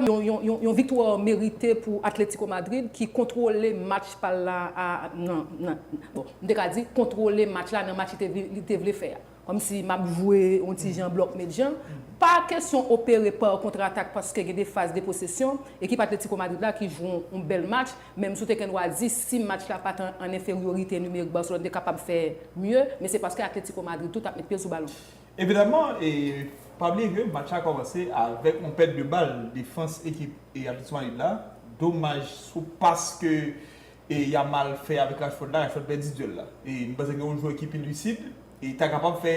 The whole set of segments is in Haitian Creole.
Yon viktwa merite pou Atletico Madrid ki kontwole match pa l la nan bon m te ka di kontwole match la nan match li te vle fè a. Kòm si m ap jwe yon ti jan blòk met jan. Pa kesyon opere pa kontratak paske gen de faz de posesyon. Ekip Atletico Madrid la ki jwe yon bèl match menm si w te gen dwa di si match la pa t an enferyorite nimerik Barcelone te kapab fè mye men se paske Atletico Madrid tou t ap met pye l sou balon. Evidaman, pa bliye ke match la kòmanse avèk yon pèt de bal defans ekip Atlético Madrid la. Domaj sou pas ke Yamal fè avèk Rashford la, Rashford pèdi duèl la. M panse gen yon jwè ki pi lisid, ki ta kapab fè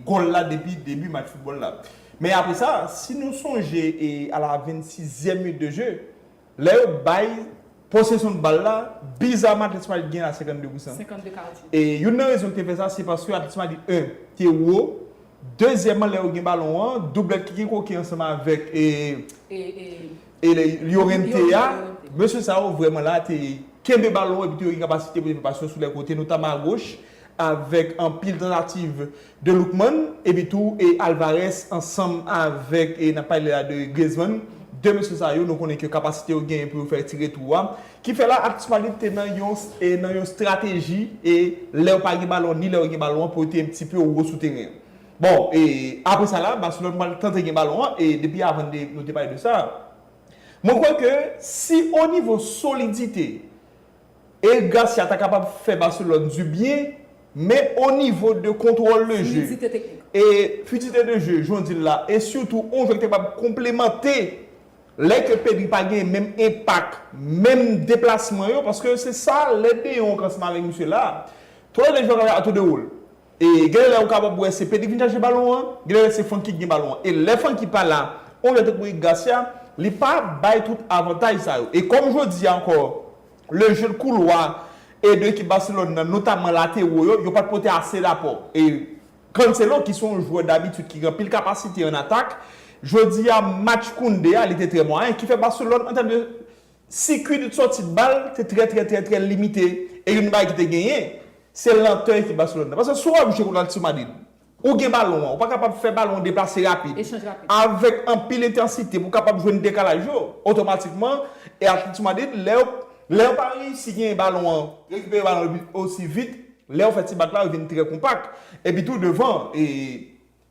gòl la depi debi match foutbòl la. Men apresa, si nou sonje a la 26 zièm minit de je, Lè yo bay posesyon bal la, bizaman Atlético Madrid gen a 52 pou san. E youn nan rezon ki te fè sa, se paske Atlético Madrid 1 te wo, dezyèman lè yo gen balon an, doublèt ki gen Koke ansanm avèk Llorente a, mesye sa yo vrèman la te kenbe balon epi te gen kapasite pou te fè pas yo sou lè kote, notamman agoch avèk anpil tantativ. de Lookman epi tou e Alvarez ansanm avèk e nap pale la de Griezmann 2 mesye sa yo nou konnen ke kapasite yo genyen pou yo fè ti retou a ki fè la aktyalite te nan yon e nan yon strateji e lèw pa gen balon ni lèw gen balon pou yo te yon ti peu wo sou teren an bon e apre sa la Barcelone pral tante gen balon an e depi avan de nou te pale de sa mwen kwè ke si o nivo solidite. Eric Garcia ta kapab fè Barcelone du bien men o nivo de kontwòl de je e fidite de je jan w di l la e sitou on jwè ki ta kapab konplemante lè ke Pedri pa gen menm enpak menm deplasman yo paske se sa lè deyong an klas mare misye la a tout le jwè ka jwe a tou de wòl. E gen lè ou kapab wè se Pedri k vin chache balon an, gen lè se Francky k gen balon an. E lè Francky pa la, on jwè tankou Eric Garcia, li pa bay tout avantaj sa yo. E kòm jodi a ankò, le jeu de couloir e 2 ekip Barcelone nan, notamman lateraux yo, yo pa t pote ase lapò. E Cancelo ki se yon jwè dabitid ki gen anpil kapasite an atak, jodi a match Koundé a li te trè mwayen ki fè Barcelone an tèm de Sikui de sòti bal te trè trè trè trè limite e youn bagay ki te genyen, se lantè ekip Barcelone nan. Paske si w ap jwe kont Atletico Madrid, ou gen balon an, ou pa kapab fè balon an deplase rapid, avèk anpil entansite pou kapab jwenn dekalaj yo, otomatikman, e Atletico Madrid, lè yo, lè yo pa reyisi genyen balon an, rekipere balon an osi vit, lè yo fè ti bak la, yo vin trè konpak. Epi tou devan, e,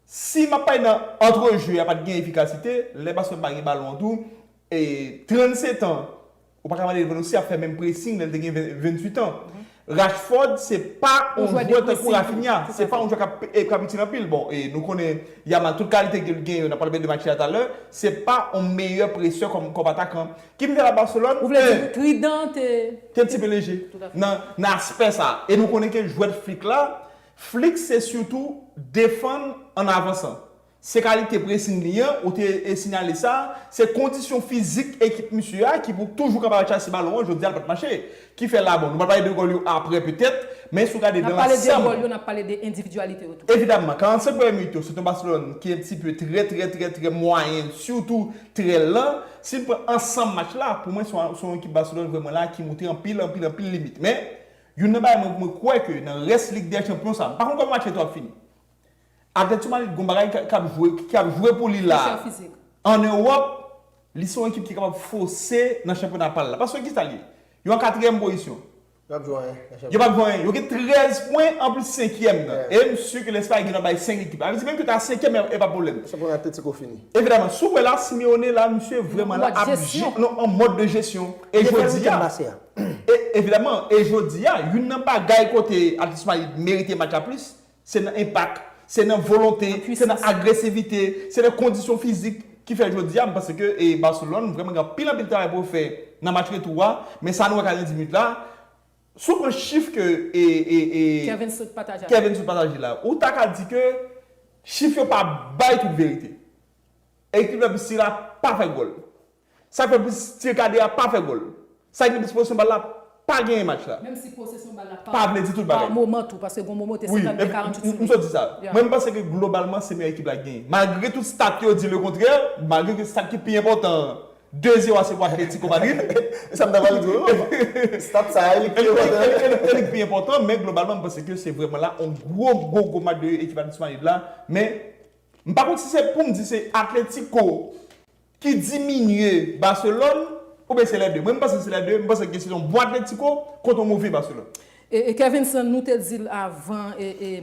si m ap pale nan antre je a pa t gen efikasite, lè Barcelone pa gen balon an tou, E 37 an, ou pa ka mande Lewandowski ap fè menm pressing lè l te gen 28 an. Rashford se pa yon jwè tankou Raphinha, se pa yon jwè k ap itil anpil. Bon, e nou konnen Yamal, tout kalite ke l gen yo, n ap pale de match la talè, se pa yon meyè presè kòm atakan. Ki m fè la Barcelone? Ou vle di Trident te. Te ti pe leje nan aspè sa. E nou konnen ke jwèt Flick la, Flick se sitou defann an avansan. Se kalite presing li an, ou te sinyale sa, se kondisyon fizik ekip misye a ki pou toujou kapab al chase balon an, jodi a l pat mache. Ki fè la bon, nou pral pale de gòl yo aprè petèt, men si w gade nan lansanm. N ap pale de gòl yo, n ap pale de endividyalite yo tou. Evidamman, 45 premyè minit yo, se t yon Baselòn ki un ti peu trè trè trè trè mwayen, sitou trè lan. Si n pran ansanm match la, pou mwen se yon ekip Baselòn vrèman la ki montre anpil anpil anpil limit. Men, youn nan bagay mwen kwè ke nan rès Lig dè Chanpyon sa, m pa konn kòman match yo tou ap fini. Atlètico Madrid gon bagay kap jwe ki ap jwe pou li la an Ewòp li se yon ekip ki kapab fose nan chanpyona pal la paske kisa li ye yo an katriyèm pozisyon yo pap jwe anyen yo gen 13 pwen anplis senkyèm nan e m si ke Lespay gen dwa bay 5 ekip sa vle di menm ke yo ta senkyèm e pa pwoblèm evidaman si w wè la Simeone la misye vreman la ap jwe an mòd de jesyon e jodiya evidaman e jodiya youn nan bagay kote Atletico Madrid merite match la plis Se nan enpak, se nan volonte, se nan agresivite, se nan kondisyon fizik ki fè jodi a m panse ke Barcelone vrèman gen anpil anpil travay pou yo fè nan match retou a, men sa nou wè 90 minit la, si w pran chif ke Kevin sot pataje la, ou ta ka di ke chif yo pa bay tout verite. Ekip la Bistri la pa fè gòl. Sa k fè plis tire kade a pa fè gòl. Sa gen plis posesyon bal la pa genyen match la. Menm si posesyon bal la pa vle di tout bagay. Pa moman tou paske gon moman ou te 52 40 sou li. M sot di sa. Mwen m panse ke globalman se meyè ekip la ki genyen. Malgre tout stat yo di le kontrè, malgre ke stat ki pi enpòtan an 2 zero a se pou Atlético Madrid. E sa m ta pral di w. Stat sa a e li k pi enpòtan. E li k pi enpòtan men globalman m panse ke se vrèman la yon gwo gwo gwo match de ekip Atlético Madrid la men m pa konn si se pou m di se Atlético ki diminye Barcelone oubyen se lè 2? Mwen m panse se lè 2, m panse gen sezon bon Atletico kont yon move Barcelone. Kevinson nou te di l avan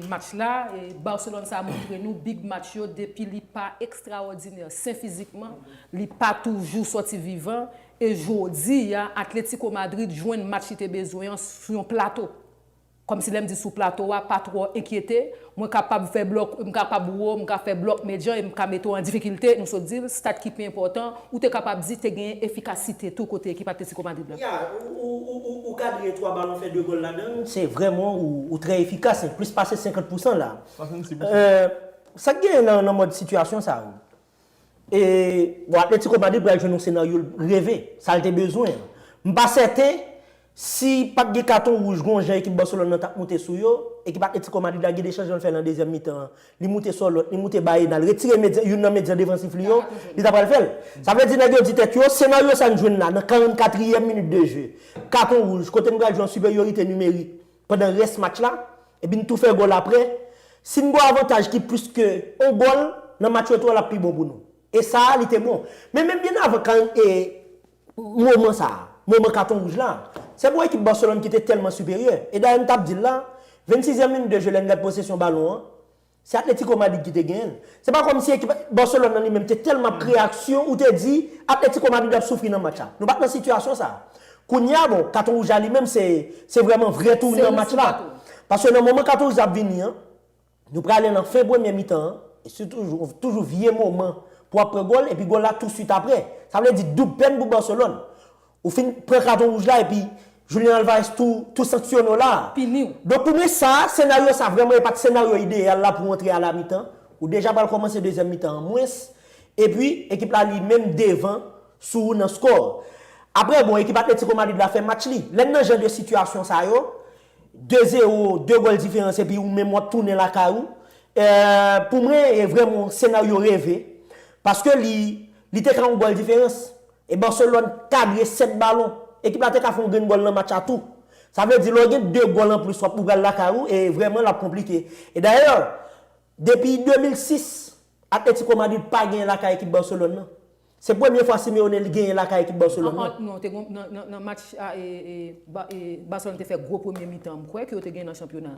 match la, Barcelone sa montre nou big match yo depi li pa ekstrawòdinè sen fizikman, li pa toujou sòti vivan e jodi a Atletico Madrid jwenn match li te bezwen an sou yon plato. Kòmsi lè m di sou plato a, pa twò enkyete, mwen kapab fè blòk, m kapab wo, m ka fè blòk medyan e m ka mete w an difikilte, nou sot di l, stat ki pi enpòtan, ou te kapab di te genyen efikasite tou kote ekip Atlético Madrid la. Yeah, ou kadre 3 balon fè 2 gòl ladan l, se vrèman ou trè efikas, plis pase 50 pousan la. 66 pousan. Sa k genyen nan mòd sitiyasyon sa yo? E bon Atletico Madrid pral jwenn yon senaryo l reve, sa l te bezwen an. M pa sèten si pa t gen katon wouj gon jan ekip Barcelone lan t ap moute sou yo, ekip Atletico Madrid la gen 2 chanjman l fè lan dezyèm mitan an, li moute Sòlòt, li moute Baena, l retire medyan youn nan medyan defansif li yo, li ta pral fè l. Sa vle di nèg yo di tèt yo, senaryo sa n jwenn la nan 44 ryèm minit de je, katon wouj, kote n pral jwe an siperyorite nimerik, pandan rès match la, epi n tou fè gòl aprè, si n gen yon avantaj ki plis ke yon gòl nan match retou a l ap pi bon pou nou. E sa a li te bon. Men menm byen avan kan e moman sa a, moman katon wouj la, se pou ekip Barcelone ki te tèlman siperyè. E dayè m t ap di l la, 26 ème minit de jeu lè n gad posesyon balon an, Se Atletico Madrid ki te genyen l. Se pa kòmsi ekip Barcelone nan li menm te tèlman ap kreye aksyon ou te di Atletico Madrid ap soufri nan match la. Nou pa t nan sitiyasyon sa a. Kounye a bon, katon wouj la li menm se se vrèman vrè tounan match la. Paske nan moman katon wouj la ap vini an, nou prale nan fen premyè mitan an e se toujou toujou vye moman pou w ap pran gòl epi gòl la tousuit aprè. Sa vle di doub pèn pou Barcelone. Ou fin pran katon wouj la epi Julian Alvarez tou tou sanksyone w la. Pini w. Donk ou men sa, senaryo sa vrèman e pat senaryo ideyal la pou w antre a la mitan. Ou deja pral kòmanse dezyèm mitan an mwens. Epi, ekip la li menm devan sou ou nan skò. Aprè bon, ekip Atlético Madrid la fè match li. Lè n nan jan de sitiyasyon sa yo, 2 zero, 2 gòl diferans epi ou menm w ap tounen lakay ou, pou mwen e vrèman yon senaryo reve. Paske li te ka yon gòl diferans. E Barcelone kadre 7 balon. Ekip la te ka fè yon grenn gòl nan match la tou. Sa vle di lè w gen 2 gòl anplis wap ou pral lakay ou e vrèman lap konplike. E dayè depi 2006 Atlético Madrid pa genyen lakay ekip Barcelone nan. Se premye fwa Simeone li genyen lakay ekip Barcelone nan. An non te gon nan match Barcelone te fè gwo premye mitan m kwè ke yo te genyen nan chanpyona.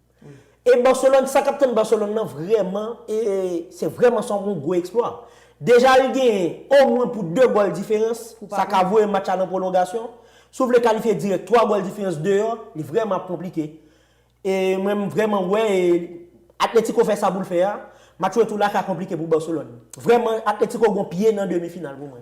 E Barcelone, sa k ap tann Barcelone nan vrèman, se vrèman sa yon gwo eksplwa. Deja li genyen omwen pou 2 gòl diferans, sa ka voye match la nan pwolongasyon. Si w vle kalifye dirèk 3 gòl diferans deyò, li vrèman ap konplike. E mwen m vrèman wè Atletico fè sa pou l fè a, match retou la ka konplike pou Barcelone. Vrèman Atletico gen yon pye nan demi final pou mwen.